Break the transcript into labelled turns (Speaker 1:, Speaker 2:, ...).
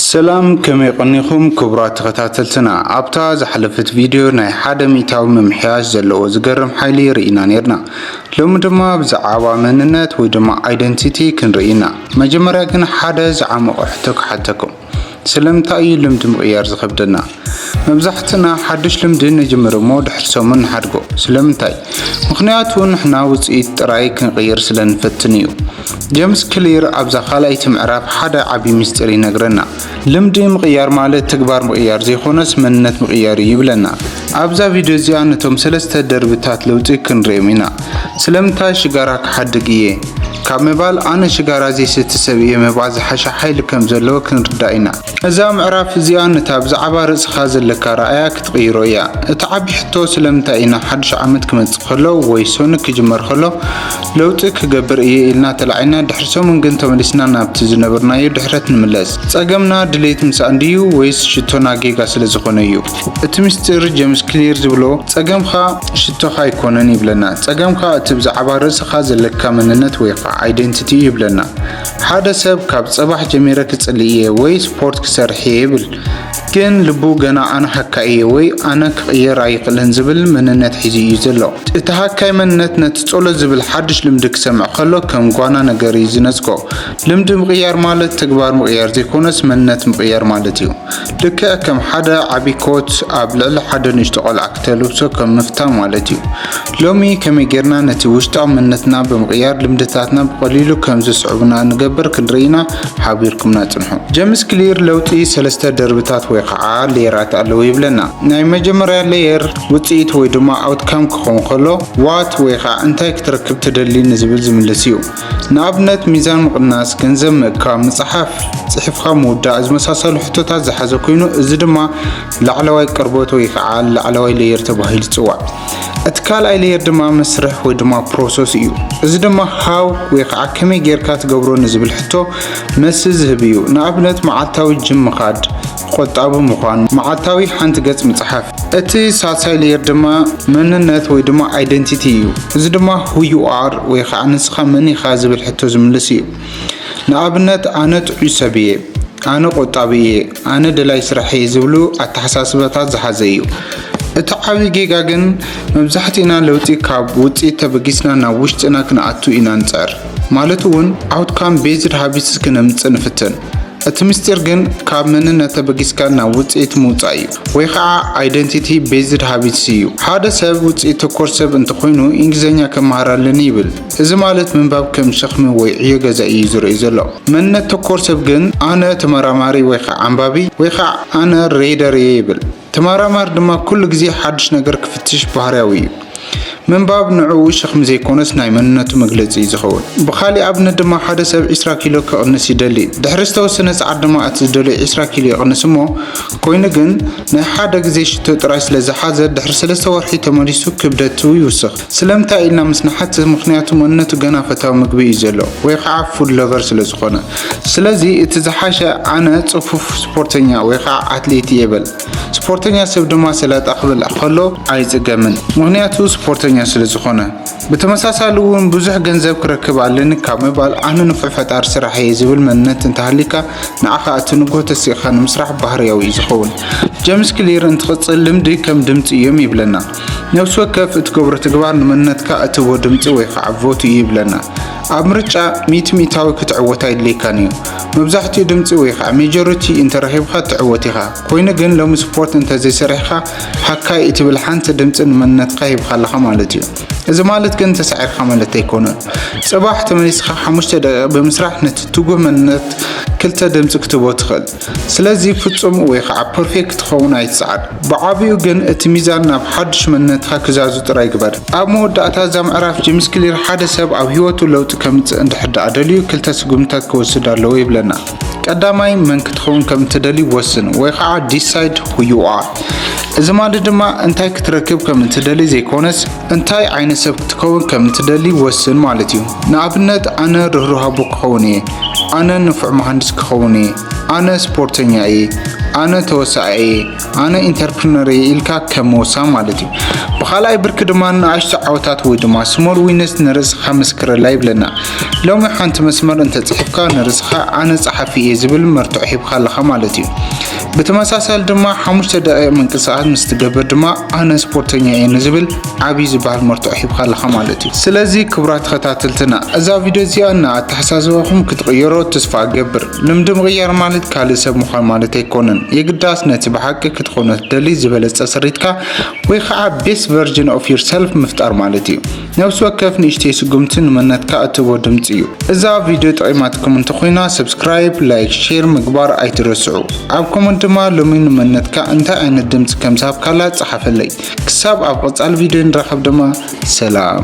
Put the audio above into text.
Speaker 1: ሰላም ከመይ ቐኒኹም ክቡራት ተኸታተልትና ኣብታ ዝሓለፈት ቪድዮ ናይ ሓደ ሚእታዊ ምምሕያሽ ዘለዎ ዝገርም ሓይሊ ርኢና ኔርና ሎሚ ድማ ብዛዓባ መንነት ወይ ድማ ኣይደንቲቲ ክንርኢ ኢና መጀመርያ ግን ሓደ ዝዓሞቐ ሕቶ ክሓተኩም ስለምንታይ እዩ ልምዲ ምቕያር ዝኸብደና መብዛሕትና ሓዱሽ ልምዲ ንጅምር እሞ ድሕሪ ሰሙን ንሓድጎ። ስለምንታይ? ምኽንያቱ ንሕና ውጽኢት ጥራይ ክንቕይር ስለ ንፈትን እዩ። ጀምስ ክሊር ኣብዛ ካልኣይቲ ምዕራፍ ሓደ ዓቢ ምስጢር ይነግረና። ልምዲ ምቕያር ማለት ተግባር ምቕያር ዘይኮነስ መንነት ምቕያር እዩ ይብለና። ኣብዛ ቪድዮ እዚኣ ነቶም ሰለስተ ደርብታት ለውጢ ክንርእዮም ኢና። ስለምንታይ ሽጋራ ክሓድግ እየ? ካብ ምባል ኣነ ሽጋራ ዘይሰቲ ሰብ እየ ምባል ዝሓሸ ሓይሊ ከም ዘለዎ ክንርዳእ ኢና። እዛ ምዕራፍ እዚኣ ነታ ብዛዕባ ርእስኻ ዘለካ ኣረኣእያ ክትቕይሮ እያ። እቲ ዓቢ ሕቶ ስለምንታይ ኢና ሓድሽ ዓመት ክመጽእ ከሎ ወይ ሰኑይ ክጅመር ከሎ ለውጢ ክገብር እየ ኢልና ተላዒልና ድሕሪ ሰሙን ግን ተመሊስና ናብቲ ዝነበርናዮ ድሕረት ንምለስ? ጸገምና ድሌት ምሳኣን ድዩ ወይስ ሽቶና ጌጋ ስለዝኾነ እዩ? እቲ ምስጢር ጀምስ ክሊር ዝብሎ ጸገምካ ሽቶኻ ኣይኮነን ይብለና። ጸገምካ እቲ ብዛዕባ ርእስኻ ዘለካ መንነት ወይኻዓ Identity እዩ ይብለና። ሓደ ሰብ ካብ ጽባሕ ጀሚረ ክጽሊ እየ ወይ ስፖርት ክሰርሕ እየ ይብል፣ ግን ልቡ ገና ኣነ ሃካይ እየ ወይ ኣነ ክቕየር ኣይኽእልን ዝብል መንነት ሒዙ እዩ ዘሎ። እቲ ሃካይ መንነት ነቲ ጸሎት ዝብል ሓድሽ ልምዲ ክሰምዕ ከሎ ከም ጓና ነገር እዩ ዝነጽጎ። ልምዲ ምቕያር ማለት ተግባር ምቕያር ዘይኮነስ መንነት ምቕያር ማለት እዩ። ልክዕ ከም ሓደ ዓቢ ኮት ኣብ ልዕሊ ሓደ ንእሽቶ ቆልዓ ክተልብሶ ከም ምፍታን ማለት እዩ። ሎሚ ከመይ ጌርና ነቲ ውሽጣዊ መንነትና ብምቕያር ልምድታትና ብቐሊሉ ከም ዝስዕቡና ንገብር ክንርኢ ኢና፣ ሓቢርኩምና ጽንሑ። ጀምስ ክሊር ለውጢ ሰለስተ ደርብታት ወይ ኸዓ ሌየራት ኣለዉ ይብለና። ናይ መጀመርያ ሌየር ውጽኢት ወይ ድማ ኣውትካም ክኸውን ከሎ ዋት ወይ ኸዓ እንታይ ክትረክብ ትደሊ ንዝብል ዝምልስ እዩ። ንኣብነት ሚዛን ምቕናስ፣ ገንዘብ ምእካብ፣ ምጽሓፍ፣ ጽሒፍኻ ምውዳእ ዝመሳሰሉ ሕቶታት ዝሓዘ ኮይኑ እዚ ድማ ላዕለዋይ ቅርበት ወይ ከዓ ላዕለዋይ ሌየር ተባሂሉ ይፅዋዕ። እቲ ካልኣይ ሌየር ድማ መስርሕ ወይ ድማ ፕሮሰስ እዩ። እዚ ድማ ሃው ወይ ከዓ ከመይ ጌርካ ትገብሮ ንዝብል ሕቶ መልሲ ዝህብ እዩ። ንኣብነት መዓልታዊ ጅም ምኻድ፣ ቆጣቢ ምዃን፣ መዓልታዊ ሓንቲ ገጽ ምጽሓፍ። እቲ ሳልሳይ ሌየር ድማ መንነት ወይ ድማ ኣይደንቲቲ እዩ። እዚ ድማ ሁ ዩ ኣር ወይ ከዓ ንስኻ መን ኢኻ ዝብል ሕቶ ዝምልስ እዩ። ንኣብነት ኣነ ጥዑይ ሰብ እየ፣ ኣነ ቆጣቢ እየ፣ ኣነ ደላይ ስራሕ እየ ዝብሉ ኣተሓሳስባታት ዝሓዘ እዩ። እቲ ዓብይ ጌጋ ግን መብዛሕቲእና ለውጢ ካብ ውፅኢት ተበጊስና ናብ ውሽጥና ክንኣቱ ኢና ንፅዕር። ማለት እውን ኣውትካም ቤዝድ ሃቢትስ ክነምፅእ ንፍትን። እቲ ምስጢር ግን ካብ መንነት ተበጊስካ ናብ ውፅኢት ምውፃእ እዩ ወይ ከዓ ኣይደንቲቲ ቤዝድ ሃቢትስ እዩ። ሓደ ሰብ ውፅኢት ተኮር ሰብ እንተኮይኑ እንግሊዝኛ ክመሃር ኣለኒ ይብል። እዚ ማለት ምንባብ ከም ሸኽሚ ወይ ዕዮ ገዛ እዩ ዝርእይ ዘሎ። መንነት ተኮር ሰብ ግን ኣነ ተመራማሪ ወይ ኸዓ ኣንባቢ ወይ ኸዓ ኣነ ሬደር እየ ይብል። ተመራማሪ ድማ ኩሉ ግዜ ሓዱሽ ነገር ክፍትሽ ባህርያዊ እዩ። ምንባብ ንዕኡ ሸኽሚ ዘይኮነስ ናይ መንነቱ መግለፂ እዩ ዝኸውን። ብኻሊእ ኣብነት ድማ ሓደ ሰብ ዕስራ ኪሎ ክቕንስ ይደሊ። ድሕሪ ዝተወሰነ ሰዓት ድማ እቲ ዝደለዮ ዕስራ ኪሎ ይቕንስ እሞ ኮይኑ ግን ናይ ሓደ ግዜ ሽቶ ጥራይ ስለዝሓዘ ድሕሪ ሰለስተ ወርሒ ተመሊሱ ክብደቱ ይውስኽ። ስለምንታይ ኢልና ምስ ንሓትት ምኽንያቱ መንነቱ ገና ፈታዊ ምግቢ እዩ ዘሎ ወይ ከዓ ፉድ ለቨር ስለ ዝኾነ ስለዚ እቲ ዝሓሸ ኣነ ፅፉፍ ስፖርተኛ ወይ ከዓ ኣትሌት እየ በል ስፖርተኛ ሰብ ድማ ሰላጣ ክበልዕ ከሎ ኣይፅገምን ምኽንያቱ ስፖርተኛ ስለ ዝኾነ ብተመሳሳሊ እውን ብዙሕ ገንዘብ ክረክብ ኣለኒ ካብ ምባል ኣነ ንፉዕ ፈጣሪ ስራሕ እየ ዝብል መንነት እንተሃሊካ ንዓኻ እቲ ንጉህ ተሲእኻ ንምስራሕ ባህርያዊ እዩ ዝኸውን ጀምስ ክሊር እንትቕፅል ልምዲ ከም ድምፂ እዮም ይብለና ነብሲ ወከፍ እትገብሮ ተግባር ንመንነትካ እትህቦ ድምጺ ወይ ኻዓ ቮት እዩ ይብለና። ኣብ ምርጫ ሚእቲ ሚእታዊ ክትዕወት ኣይድልየካን እዩ። መብዛሕቲኡ ድምጺ ወይ ኻዓ ሜጆሪቲ እንተረኺብኻ ትዕወት ኢኻ። ኮይኑ ግን ሎሚ ስፖርት እንተዘይሰሪሕኻ ሃካይ እትብል ሓንቲ ድምጺ ንመንነትካ ሂብኻ ኣለኻ ማለት እዩ። እዚ ማለት ግን ተሳዒርካ ማለት ኣይኮነን። ጽባሕ ተመሊስኻ ሓሙሽተ ደቂቅ ብምስራሕ ነቲ ትጉህ መንነት ክልተ ድምጺ ክትህቦ ትኽእል። ስለዚ ፍጹም ወይ ኸዓ ፐርፌክት ክትኸውን ኣይትጽዓር። ብዓቢኡ ግን እቲ ሚዛን ናብ ሓድሽ መንነትኻ ክዛዙ ጥራይ ግበር። ኣብ መወዳእታ እዛ ምዕራፍ ጂምስ ክሊር ሓደ ሰብ ኣብ ህይወቱ ለውጢ ከምጽእ እንድሕር ደኣ ደልዩ ክልተ ስጉምትታት ክወስድ ኣለዎ ይብለና። ቀዳማይ መን ክትኸውን ከም እትደሊ ወስን ወይ ኸዓ ዲሳይድ ሁ ዩ ኣር። እዚ ማለት ድማ እንታይ ክትረክብ ከም እትደሊ ዘይኮነስ፣ እንታይ ዓይነት ሰብ ክትከውን ከም እትደሊ ወስን ማለት እዩ። ንኣብነት ኣነ ርህሩህ ኣቦ ክኸውን እየ፣ ኣነ ንፉዕ መሃንድስ ክኸውን እየ፣ ኣነ ስፖርተኛ እየ፣ ኣነ ተወሳኢ እየ፣ ኣነ ኢንተርፕርነር እየ ኢልካ ከም ምውሳን ማለት እዩ። ብኻልኣይ ብርኪ ድማ ንኣሽቱ ዓወታት ወይ ድማ ስሞል ዊንስ ንርእስኻ መስክረላ ይብለና። ሎሚ ሓንቲ መስመር እንተጽሒፍካ ንርእስኻ ኣነ ጸሓፊ እየ ዝብል መርትዖ ሂብካ ኣለኻ ማለት እዩ። ብተመሳሳሊ ድማ ሓሙሽተ ደቂቕ ምንቅስቓስ ምስ ትገብር ድማ ኣነ ስፖርተኛ እየ ንዝብል ዓብዪ ዝበሃል መርትዖ ሂብካ ኣለኻ ማለት እዩ። ስለዚ ክቡራት ተኸታተልትና እዛ ቪድዮ እዚኣ ንኣተሓሳስባኹም ክትቕይሮ ተስፋ እገብር። ልምዲ ምቕያር ማለት ካልእ ሰብ ምዃን ማለት ኣይኮነን። የግዳስ ነቲ ብሓቂ ክትኾኖ ትደሊ ዝበለጸ ስሪትካ ወይ ከዓ ቤስት ቨርጅን ኦፍ ዩርሰልፍ ምፍጣር ማለት እዩ። ነብሲ ወከፍ ንእሽተይ ስጉምቲ ንመነትካ እትህቦ ድምጺ እዩ። እዛ ቪድዮ ጠቒማትኩም እንተኾይና ሰብስክራይብ፣ ላይክ፣ ሼር ምግባር ኣይትረስዑ። ኣብ ኮመንት ድማ ሎሚ ንመነትካ እንታይ ዓይነት ድምጺ ከም ዝሃብካላ ጸሓፈለይ። ክሳብ ኣብ ቐጻሊ ቪድዮ ንራኸብ ድማ ሰላም።